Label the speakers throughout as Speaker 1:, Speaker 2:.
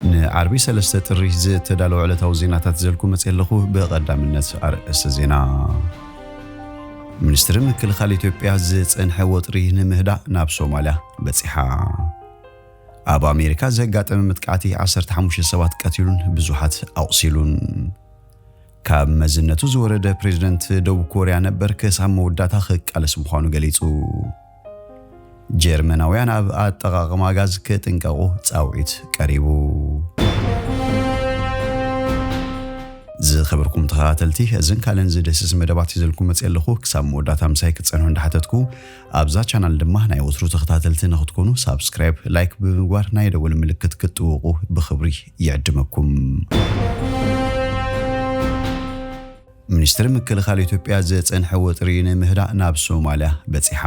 Speaker 1: ንዓርቢ ሰለስተ ጥሪ ዝተዳለወ ዕለታዊ ዜናታት ይዘልኩ መጺኤ ኣለኹ። ብቐዳምነት ኣርእስተ ዜና። ሚኒስትሪ ምክልኻል ኢትዮጵያ ዝጸንሐ ወጥሪ ንምህዳእ ናብ ሶማልያ በጺሓ። ኣብ ኣሜሪካ ዘጋጠመ መጥቃዕቲ ዓሰርተ ሓሙሽተ ሰባት ቀቲሉን ብዙሓት ኣቑሲሉን። ካብ መዝነቱ ዝወረደ ፕሬዝደንት ደቡብ ኮርያ ነበር ክሳብ መወዳእታ ክቃለስ ምዃኑ ገሊጹ። ጀርመናውያን ኣብ ኣጠቓቕማ ጋዝ ክጥንቀቑ ጻውዒት ቀሪቡ። ዝኸበርኩም ተኸታተልቲ እዝን ካልእን ዝድህስስ መደባት ይዘልኩም መፅእ ኣለኹ ክሳብ መወዳእታ ምሳይ ክትፀንሑ እንዳሓተትኩ ኣብዛ ቻናል ድማ ናይ ወትሩ ተኸታተልቲ ንክትኮኑ ሳብስክራይብ ላይክ ብምግባር ናይ ደወል ምልክት ክትጥውቑ ብክብሪ ይዕድመኩም ሚኒስትሪ ምክልኻል ኢትዮጵያ ዝጸንሐ ወጥሪ ንምህዳእ ናብ ሶማልያ በጺሓ።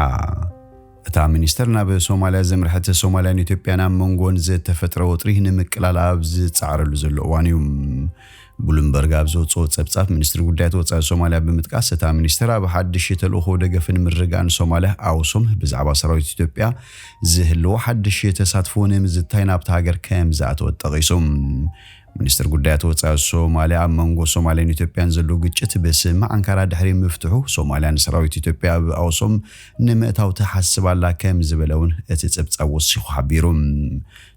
Speaker 1: እታ ሚኒስትር ናብ ሶማልያ ዘምርሐት ሶማልያን ኢትዮጵያን ኣብ መንጎን ዝተፈጥረ ወጥሪ ንምቅላል ኣብ ዝጻዕረሉ ዘሎ እዋን'ዩ። ብሉምበርግ ኣብ ዘውጽኦ ጸብጻብ ሚኒስትሪ ጉዳያት ወጻኢ ሶማልያ ብምጥቃስ እታ ሚኒስትር ኣብ ሓድሽ ተልእኾ ደገፍን ምርግጋእን ሶማልያ፣ ኣውሶም፣ ብዛዕባ ሰራዊት ኢትዮጵያ ዝህልዎ ሓድሽ ተሳትፎ ንምዝታይ ናብታ ሃገር ከምዝኣተወት ጠቒሱ። ሚኒስትር ጉዳያት ወጻኢ ሶማልያ ኣብ መንጎ ሶማልያን ኢትዮጵያን ዘሎ ግጭት ብስምምዕ ኣንካራ ድሕሪ ምፍትሑ ሶማልያ ንሰራዊት ኢትዮጵያ ኣብ ኣውሶም ንምእታው ትሓስብ ኣላ ከም ዝበለ እውን እቲ ጸብጻብ ወሲኹ ሓቢሩ።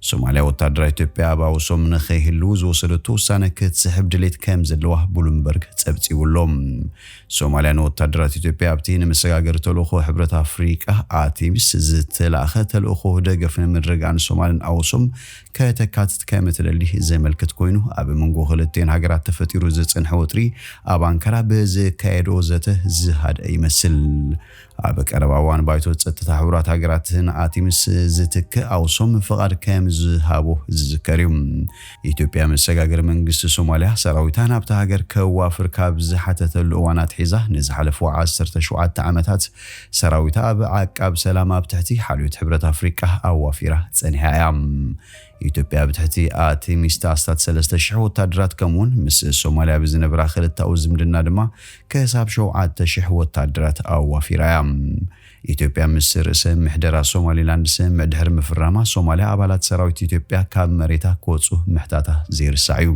Speaker 1: ሶማልያ ወታደራት ኢትዮጵያ ኣብ ኣውሶም ንኸይህልዉ ዝወሰደቶ ውሳነ ክትስሕብ ድሌት ከም ዘለዋ ብሉምበርግ ጸብጺቡ ኣሎ። ሶማልያ ንወታደራት ኢትዮጵያ ኣብቲ ንመሰጋገሪ ተልእኾ ሕብረት ኣፍሪቃ፣ ኣቲሚስ፣ ዝተላእከ ተልእኾ ደገፍ ንምርግጋእን ሶማልን ኣውሶም ከተካትት ከም እትደሊ ዘመልክት ኮይኑ፣ ኣብ መንጎ ክልቲኤን ሃገራት ተፈጢሩ ዝጸንሐ ወጥሪ ኣብ ኣንካራ ብዝካየድኦ ዘተ ዝሃድኣ ይመስል። ኣብ ቀረባ እዋን ባይቶ ጸጥታ ሕቡራት ሃገራት ንኣቲምስ ዝትክእ ኣውሶም ፍቓድ ከም ዝሃቦ ዝዝከር እዩ። ኢትዮጵያ መሰጋገሪ መንግስቲ ሶማልያ ሰራዊታ ናብታ ሃገር ከዋፍር ካብ ዝሓተተሉ እዋን ኣትሒዛ ንዝሓለፉ ዓሰርተ ሸውዓተ ዓመታት ሰራዊት ኣብ ዓቃብ ሰላም ኣብ ትሕቲ ሓልዮት ሕብረት ኣፍሪቃ ኣዋፊራ ጸኒሓ እያ። ኢትዮጵያ ብትሕቲ ኣቲሚስት ኣስታት ሰለስተ ሽሕ ወታደራት ከምኡውን ምስ ሶማልያ ብዝነበራ ክልታኡ ዝምድና ድማ ከሳብ ሸውዓተ ሽሕ ወታደራት ኣዋፊራ እያ። ኢትዮጵያ ምስ ርእሰ ምሕደራ ሶማሊላንድ ስምምዕ ድሕሪ ምፍራማ ሶማልያ ኣባላት ሰራዊት ኢትዮጵያ ካብ መሬታ ክወጹ ምሕታታ ዘይርሳዕ እዩ።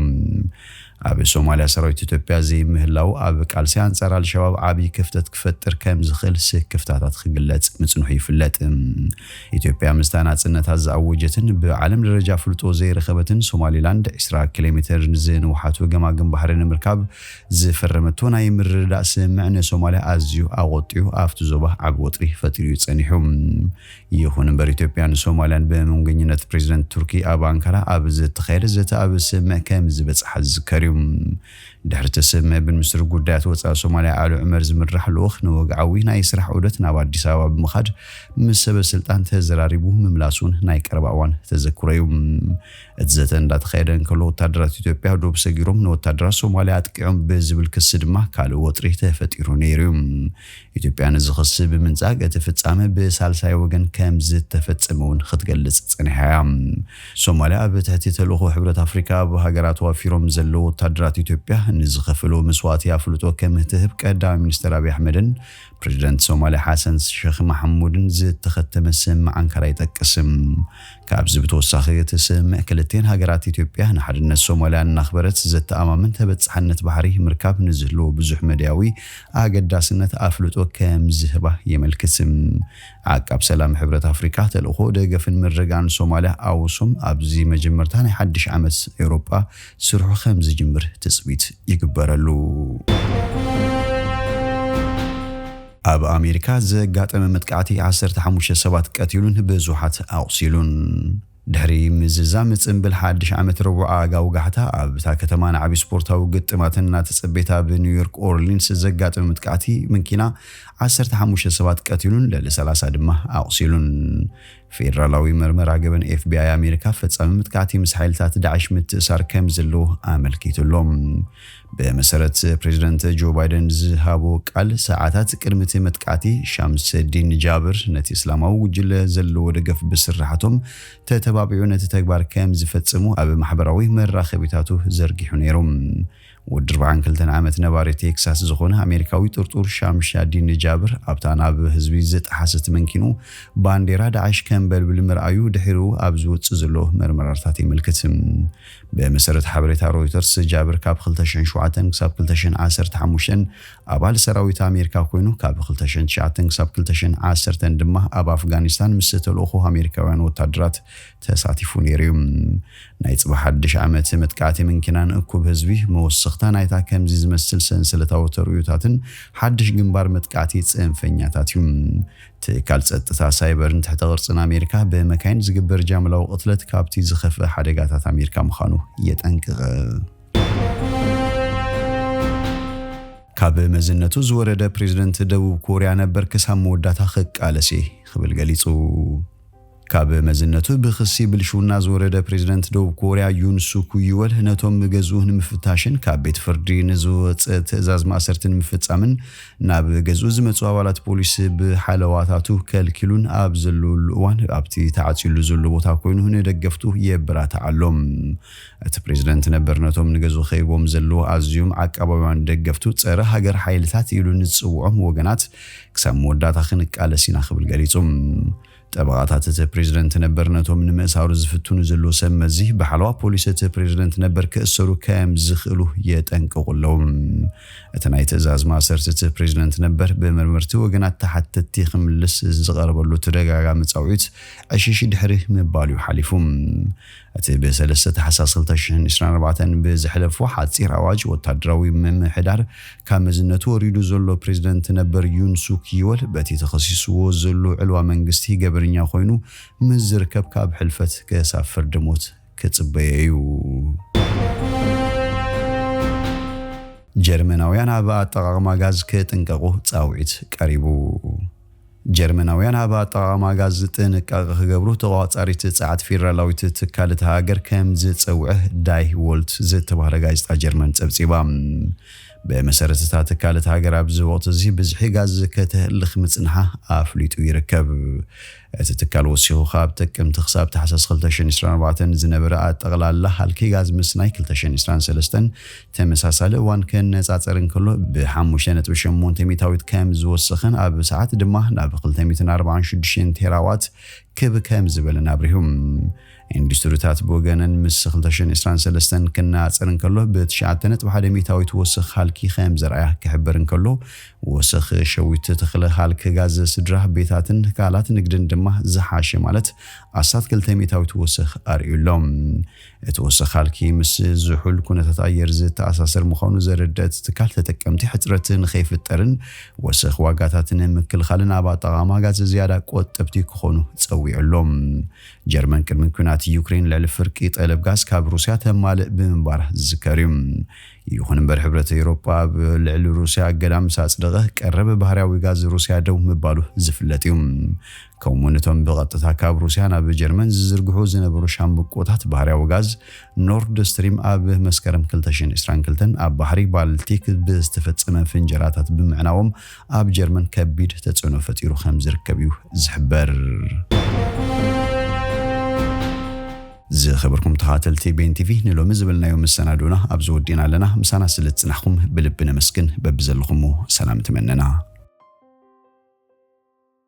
Speaker 1: ኣብ ሶማልያ ሰራዊት ኢትዮጵያ ዘይምህላዉ ኣብ ቃልሲ ኣንጻር ኣልሸባብ ዓብዪ ክፍተት ክፈጥር ከም ዝኽእል ስክፍታታት ክግለጽ ምጽንሑ ይፍለጥ። ኢትዮጵያ ምስታ ናጽነታ ዝኣወጀትን ብዓለም ደረጃ ኣፍልጦ ዘይረኸበትን ሶማሊላንድ ዕስራ ኪሎሜተር ንዝንውሓቱ ገማግም ባሕሪ ንምርካብ ዝፈረመቶ ናይ ምርድዳእ ስምምዕ ንሶማልያ ኣዝዩ ኣቖጢዑ ኣብቲ ዞባ ዓቢ ወጥሪ ፈጢሩ'ዩ ጸኒሑ። ይኹን እምበር ኢትዮጵያን ሶማልያን ብምንጉኝነት ፕሬዚደንት ቱርኪ ኣብ ኣንካራ ኣብ ዝተኻየደ ዘተ ኣብ ስምምዕ ከምዝበፅሓ ዝዝከር ዩ። ድሕሪ እቲ ስምምዕ ብምኒስትር ጉዳያት ወፃኢ ሶማልያ ኣሉ ዑመር ዝምራሕ ልኡኽ ንወግዓዊ ናይ ስራሕ ዑደት ናብ ኣዲስ ኣበባ ብምኻድ ምስ ሰበ ስልጣን ተዘራሪቡ ምምላሱ ን ናይ ቀረባ እዋን ተዘክሮ ዩ። እቲ ዘተ እንዳተኻየደ እንከሎ ወታደራት ኢትዮጵያ ዶብ ሰጊሮም ንወታደራት ሶማልያ ኣጥቂዖም ብዝብል ክሲ ድማ ካልእ ወጥሪ ተፈጢሩ ነይሩ ዩ። ኢትዮጵያ ነዚ ክሲ ብምንጻግ እቲ ፍጻመ ብሳልሳይ ወገን ከምዝተፈጸመ እውን ክትገልጽ ጸኒሓ እያ። ሶማልያ ኣብ ትሕቲ ተልእኾ ሕብረት ኣፍሪካ ኣብ ሃገራ ተዋፊሮም ዘለዉ ወታደራት ኢትዮጵያ ንዝኸፈልዎ መስዋእቲ ኣፍልጦ ከምትህብ ቀዳማይ ሚኒስተር ኣብይ ኣሕመድን ፕረዚደንት ሶማልያ ሓሰን ሸኽ ማሕሙድን ዝተኸተመ ስምምዕ ኣንካራ ይጠቅስ። ካብዚ ብተወሳኺ እቲ ስምምዕ ክልቲኤን ሃገራት ኢትዮጵያ ንሓድነት ሶማሊያ እናኽበረት ዘተኣማምን ተበፃሕነት ባሕሪ ምርካብ ንዝህልዎ ብዙሕ መዳያዊ ኣገዳስነት ኣፍልጦ ከምዝህባ የመልክት። ዓቃብ ሰላም ሕብረት ኣፍሪቃ ተልእኾ ደገፍን ምርግጋእን ሶማሊያ ኣውሶም ኣብዚ መጀመርታ ናይ ሓድሽ ዓመት ኤውሮጳ ስርሑ ከምዝጅምር ትፅቢት ይግበረሉ። ኣብ ኣሜሪካ ዘጋጠመ መጥቃዕቲ ዓሰርተ ሓሙሽተ ሰባት ቀቲሉን ብዙሓት ኣቑሲሉን። ድሕሪ ምዝዛም ጽንብል ሓድሽ ዓመት ረቡዕ ኣጋ ወጋሕታ ኣብታ ከተማ ንዓቢ ስፖርታዊ ግጥማት እናተጸበየት ኣብ ኒውዮርክ ኦርሊንስ ዘጋጠመ መጥቃዕቲ መኪና ዓሰርተ ሓሙሽተ ሰባት ቀቲሉን ልዕሊ ሰላሳ ድማ ኣቑሲሉን። ፌደራላዊ መርመራ ገበን፣ ኤፍቢኣይ፣ ኣሜሪካ ፈጻሚ መጥቃዕቲ ምስ ሓይልታት ዳዕሽ ምትእሳር ከምዘሎ ኣመልኪቱ ኣሎ። ብመሰረት ፕሬዚደንት ጆ ባይደን ዝሃቦ ቃል፣ ሰዓታት ቅድሚ እቲ መጥቃዕቲ ሻምሰዲን ጃብር ነቲ እስላማዊ ጉጅለ ዘለዎ ደገፍ ብስርሓቶም ተተባቢዑ ነቲ ተግባር ከምዝፈጽሙ ኣብ ማሕበራዊ መራኸቢታቱ ዘርጊሑ ነይሩ። ወዲ ኣርብዓን ክልተን ዓመት ነባሪ ቴክሳስ ዝኾነ ኣሜሪካዊ ጥርጡር ሻምሻዲን ንጃብር ኣብታ ናብ ህዝቢ ዝጠሓሰት መንኪኑ ባንዴራ ዳዕሽ ከንበልብል ምርኣዩ ድሒሩ ኣብ ዝወጽእ ዘሎ መርመራርታት የመልክት። ብመሰረት ሓበሬታ ሮይተርስ ጃብር ካብ ክልተ ሽሕን ሸውዓተን ክሳብ ክልተ ሽሕን ዓሰርተ ሓሙሽተን ኣባል ሰራዊት ኣሜሪካ ኮይኑ ካብ ክልተ ሽሕን ትሽዓተን ክሳብ ክልተ ሽሕን ዓሰርተን ድማ ኣብ ኣፍጋኒስታን ምስ ተልእኾ ኣሜሪካውያን ወታደራት ተሳቲፉ ነይሩ እዩ። ናይ ጽባሕ ሓድሽ ዓመት መጥቃዕቲ ምንኪናን እኩብ ህዝቢ፣ መወሰኽታ ናይታ ከምዚ ዝመስል ሰንሰለታዊ ተርእዮታትን ሓድሽ ግንባር መጥቃዕቲ ጽንፈኛታት እዩ። ትካል ጸጥታ ሳይበርን ትሕተ ቅርጽን ኣሜሪካ ብመካይን ዝግበር ጃምላዊ ቅትለት ካብቲ ዝኸፍእ ሓደጋታት ኣሜሪካ ምዃኑ የጠንቅቕ። ካብ መዝነቱ ዝወረደ ፕሬዝደንት ደቡብ ኮርያ ነበር ክሳብ መወዳእታ ክቃለስ እየ ክብል ገሊጹ። ካብ መዝነቱ ብክሲ ብልሽውና ዝወረደ ፕሬዝደንት ደቡብ ኮርያ ዩን ሱኩ ይወል ነቶም ገዝኡ ንምፍታሽን ካብ ቤት ፍርዲ ንዝወፀ ትእዛዝ ማእሰርቲ ንምፍፃምን ናብ ገዝኡ ዝመፁ ኣባላት ፖሊስ ብሓለዋታቱ ከልኪሉን ኣብ ዘለወሉ እዋን ኣብቲ ተዓፅዩሉ ዘሎ ቦታ ኮይኑ ንደገፍቱ የበራትዕ ኣሎ። እቲ ፕሬዝደንት ነበር ነቶም ንገዝኡ ከቢቦም ዘለዉ ኣዝዮም ዓቃባውያን ደገፍቱ ፀረ ሃገር ሓይልታት ኢሉ ንዝፅውዖም ወገናት ክሳብ መወዳእታ ክንቃለስ ኢና ክብል ገሊፁ። ጠበቓታት እቲ ፕሬዝደንት ነበር ነቶም ንምእሳሩ ዝፍትኑ ዘለዉ ሰብ መዚ ብሓለዋ ፖሊስ እቲ ፕሬዝደንት ነበር ክእሰሩ ከየም ዝኽእሉ የጠንቅቑ ኣለዉ። እቲ ናይ ትእዛዝ ማእሰርቲ እቲ ፕሬዝደንት ነበር ብመርመርቲ ወገናት ተሓተትቲ ክምልስ ዝቐረበሉ ተደጋጋሚ ጻውዒት ዕሽሽ ድሕሪ ምባል'ዩ ሓሊፉ። እቲ ብ ሰለስተ ታሕሳስ ክልተ ሽሕን ዕስራን ኣርባዕተን ብዝሐለፎ ሓጺር ኣዋጅ ወታደራዊ ምምሕዳር ካብ መዝነቱ ወሪዱ ዘሎ ፕሬዝደንት ነበር ዩን ሱክ ዮል በቲ ተኸሲስዎ ዘሎ ዕልዋ መንግስቲ ገበነኛ ኮይኑ ምስ ዝርከብ ካብ ሕልፈት ክሳብ ፍርዲ ሞት ክጽበዮ እዩ። ጀርመናውያን ኣብ ኣጠቓቕማ ጋዝ ክጥንቀቑ ጻውዒት ቀሪቡ። ጀርመናውያን ኣብ ኣጠቓቕማ ጋዝ ጥንቃቐ ክገብሩ ተቖጻጻሪት ጸዓት ፌደራላዊት ትካል እታ ሃገር ከም ዝጸውዐ ዳይ ዎልት ዝተባህለ ጋዜጣ ጀርመን ጸብጺባ። ብመሰረት እታ ትካል እታ ሃገር ኣብዚ ወቕቲ'ዚ ብዝሒ ጋዝ ከተህልኽ ምጽንሓ ኣፍሊጡ ይርከብ። እቲ ትካል ወሲኹ ካብ ጥቅምቲ ክሳብ ታሕሳስ ክልተ ሽሕን ዕስራን ኣርባዕተን ዝነበረ ኣጠቕላላ ሃልኪ ጋዝ ምስናይ ክልተ ሽሕን ዕስራን ሰለስተን ተመሳሳሊ እዋን ክነጻጸር እንከሎ ብሓሙሽተ ነጥቢ ሸሞንተ ሚታዊት ከም ዝወሰኸን ኣብ ሰዓት ድማ ናብ ክልተ ሚእትን ኣርባዓን ሽዱሽተን ቴራዋት ክብ ከም ዝበለን ኣብሪሁ። ኢንዱስትሪታት ብወገነን ምስ ክልተ ሽሕን ዕስራን ሰለስተን ክነጻጸር እንከሎ ብትሽዓተ ነጥቢ ሓደ ሚታዊት ወሰኽ ሃልኪ ከም ዘርኣያ ክሕበር እንከሎ፣ ወሰኽ ሸዊት ተኽለ ሃልኪ ጋዝ ስድራ ቤታትን ትካላት ንግድን ድማ ዝሓሸ ማለት ኣስታት ክልተ ሚታዊት ወሰኽ ኣርእዩ ኣሎ። እቲ ወሰኻልኪ ምስ ዝሑል ኩነታት ኣየር ዝተኣሳሰር ምዃኑ ዘረድእ እቲ ትካል ተጠቀምቲ ሕፅረት ንከይፍጠርን ወሰኽ ዋጋታት ንምክልኻልን ኣብ ኣጠቓቕማ ጋዝ ዝያዳ ቆጠብቲ ክኾኑ ፀዊዑ ኣሎ። ጀርመን ቅድሚ ኲናት ዩክሬን ልዕሊ ፍርቂ ጠለብ ጋዝ ካብ ሩስያ ተማልእ ብምንባራ ዝዝከር እዩ። ይኹን እምበር ሕብረት ኤውሮጳ ኣብ ልዕሊ ሩስያ እገዳ ምስ ኣፅደቐ ቀረብ ባህርያዊ ጋዝ ሩስያ ደው ምባሉ ዝፍለጥ እዩ። ከምኡ'ውን እቶም ብቐጥታ ካብ ሩስያ ናብ ጀርመን ዝዝርግሑ ዝነበሩ ሻምብቆታት ባህርያዊ ጋዝ ኖርድ ስትሪም ኣብ መስከረም 2022 ኣብ ባሕሪ ባልቲክ ብዝተፈጸመ ፍንጀራታት ብምዕናዎም ኣብ ጀርመን ከቢድ ተጽዕኖ ፈጢሩ ከም ዝርከብ እዩ ዝሕበር። ዝኸበርኩም ተኻተልቲ ቤን ቲቪ ንሎሚ ዝበልናዮ መሰናዶና ኣብዚ ወዲና ኣለና። ምሳና ስለ ዝጽናሕኩም ብልቢ ነመስግን። በብዘለኹሞ ሰላም ትመነና።